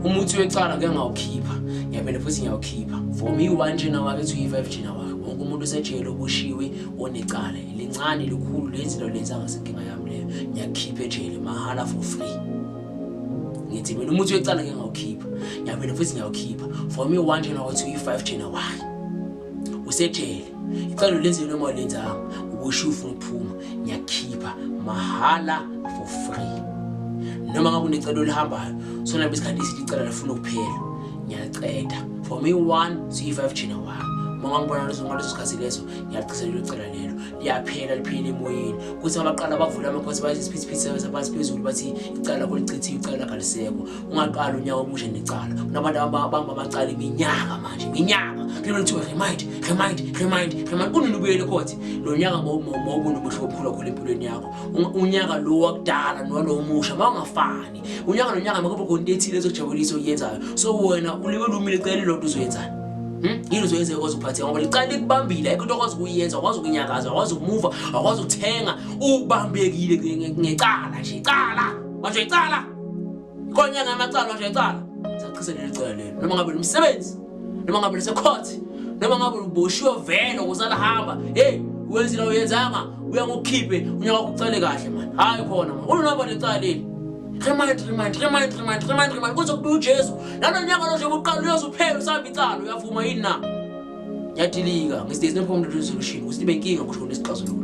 umuthi wecala ke ngawukhipha ngiyaphinda futhi ngiyawukhipha for me one jena wakhe to e5 jena wakhe wonke umuntu osejele obushiwe onecala lincane likhulu lenzi lo lenza ngasenkinga yami leyo ngiyakhipha ejele mahala for free ngithi mina umuthi wecala ke ngawukhipha ngiyaphinda futhi ngiyawukhipha for me one jena wakhe to e5 jena wakhe usejele icalo lenziwe noma lenzanga ukusho ufuna ukuphuma ngiyakhipha mahhala for free noma ngabe unecelo olihambayo sona besikhathi isithi icala lifuna ukuphela ngiyaceda for me one c5 jina wami uma ngibona leso ngaleso sikhathi leso ngiyagcizelela ucela lelo liyaphela liphile emoyeni kuthi abaqala bavula amakhosi bayizisiphithiphithi sabantu phezulu bathi icala kolichithiwe icala kalisekho ungaqala unyaka omusha necala kunabantu abamba amacala iminyaka manje iminyaka kulemele kuthiwa remind remind remind remind kunini ubuyele khothi lo nyaka mawubona umuhle obukhulu kakhulu empilweni yakho unyaka lo wakudala nowalo omusha mawungafani unyaka nonyaka makube khona into ethile ezojabulisa oyenzayo so wena ulibele umile cela ilonto uzoyenzani Hmm? yini uzoyenza ekwazi ukuphatheka ngoba licala likubambile ayikho into okwazi ukuyenza akwazi ukunyakaza akwazi ukumuva akwazi ukuthenga ubambekile ngecala nje icala manje icala Konya ngamacala nje cala. Saqhise leli cala leli. Noma ngabe umsebenzi, noma ngabe lisekhothi, noma ngabe uboshiwe vele kusala hamba. Hey, wenzile uyenzanga, uya ngokhiphe, unyaka kucele kahle manje. Hayi khona manje. Ulunaba lecala leli. Remind, remind, remind, remind, remind, remind. Kuze kube uJesu. Lana nyaka lo nje uqala uyozuphela usamba icala uyavuma yini na? Yadilika. Ngisithe sinephomdo resolution. Usibe inkinga kusho lesixazululo.